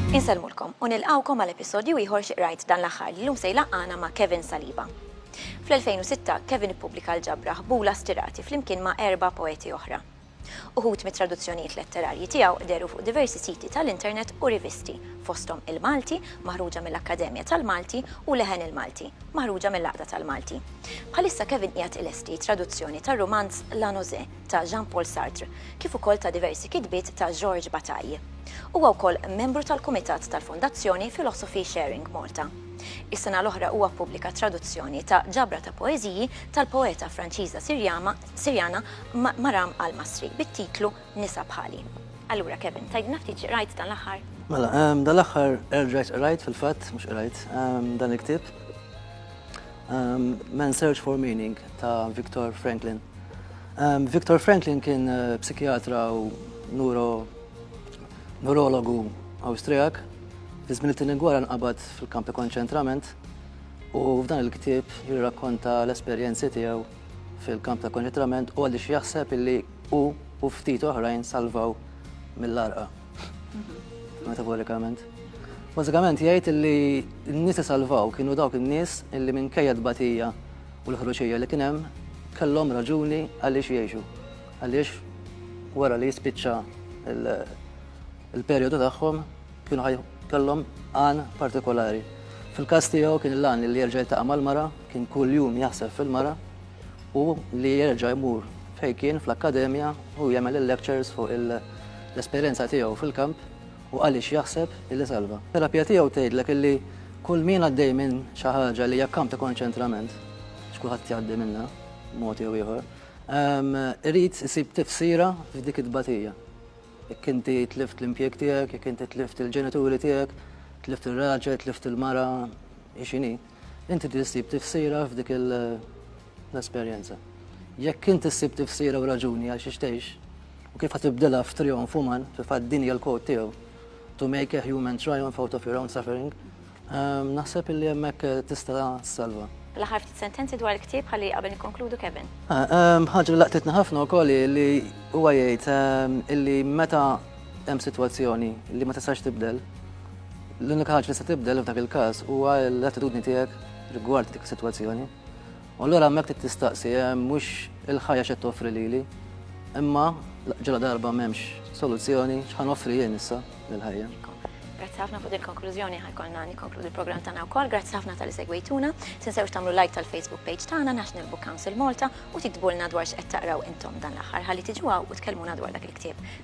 Insellmulkom u nilqgħukom għal episodju ieħor xi qrajt dan l-aħħar li llum se jlaqqana ma' Kevin Saliba. Fl-2006, Kevin ippubblika l-ġabra Ħbula Stirati flimkien ma' erba' poeti oħra. Uħud mit-traduzzjonijiet letterarji tiegħu dehru fuq diversi siti tal-internet u rivisti, fosthom Il-Malti, maħruġa mill-Akkademja tal-Malti, u Leħen il-Malti, maħruġa mill-Għaqda tal-Malti. Bħalissa Kevin qiegħed ilesti traduzzjoni tar-rumanz La Nausée ta' Jean-Paul Sartre, kif ukoll ta' diversi kitbiet ta' Georges Bataille. Huwa wkoll membru tal-kumitat tal-Fondazzjoni Philosophy Sharing Malta. Is-sena l-oħra huwa ppubblika traduzzjoni ta' ġabra ta' poeżiji tal-poeta Franċiża Sirjama Sirjana, mara Al-Masri, bit-titlu Nisa Bħali. Allura Kevin, tgħidilna ftit x'qrajt dan l-aħħar? Mela, dan l-aħħar erġajt qrajt fil-fatt, mhux qrajt, dan il-ktieb. Man Search for Meaning ta' Viktor Franklin. Viktor Franklin kien eh, psikjatra u neuro neurologu Awstrijak fi żmien it-tieni gwara nqabad fil-kampi konċentrament u f'dan il-ktieb jirrakkonta l-esperjenzi tiegħu fil-kamp ta' konċentrament u għaliex jaħseb illi hu u ftit oħrajn salvaw mill-arqa. Metaforikament. Bażikament jgħid illi n-nies salvaw kienu dawk in-nies illi minn kejja batija u l-ħruġija li kien hemm kellhom raġuni għaliex jgħixu. Għaliex wara li jispiċċa il-perjodu tagħhom Kienu ħaj kellhom għan partikolari. Fil-każ tiegħu kien l-għan li jerġa' jiltaqa' mal-mara, kien kull jum jaħseb fil-mara u li jerġa' jmur fejn kien fl-akkademja u jagħmel il-lectures fuq l-esperjenza tiegħu fil-kamp u għaliex jaħseb illi salva. Terapija tiegħu tgħidlek illi kull min għaddej minn xi ħaġa li hija kamp ta' konċentrament, x'kulħadd jgħaddi minnha b'mod jew ieħor, irid isib tifsira f'dik it-tbatija. Jekk inti tlift l-impjieg tiegħek, jekk inti tlift il-ġenituri tiegħek, tlift ir-raġel, tlift il-mara, hi x'inhi, inti trid issib tifsira f'dik l-esperjenza. Jekk inti ssib tifsira u raġuni għal xiex tgħix, u kif ħa tibdilha f'trijonf uman, fil-fatt din hija l-quote tiegħu, To make a human triumph out of your own suffering, Naħseb illi hemmhekk tista' ssalva. L-aħħar ftit sentenzi dwar il-ktieb ħalli qabel nikkonkludu Kevin. Ħaġa li laqtitni ħafna wkoll li huwa jgħid illi meta hemm sitwazzjoni li ma tistax tibdel, l-unika ħaġa li se tibdel f'dak il-każ huwa l-attitudni tiegħek rigward dik is-sitwazzjoni. U allura hemmhekk trid tistaqsi, mhux il-ħajja x'qed toffri lili, imma ġala darba m'hemmx soluzzjoni x'ħa noffri jien issa lill-ħajja. Grazzi ħafna fuq il-konklużjoni ħajkolna nikkonkludi l-programm tagħna wkoll. Grazzi ħafna tal segwejtuna. Tinsewx tagħmlu like tal-Facebook page tagħna National Book Council Malta u tiktbulna dwar x'qed taqraw intom dan l-aħħar ħalli tiġu u tkellmuna dwar dak il-ktieb.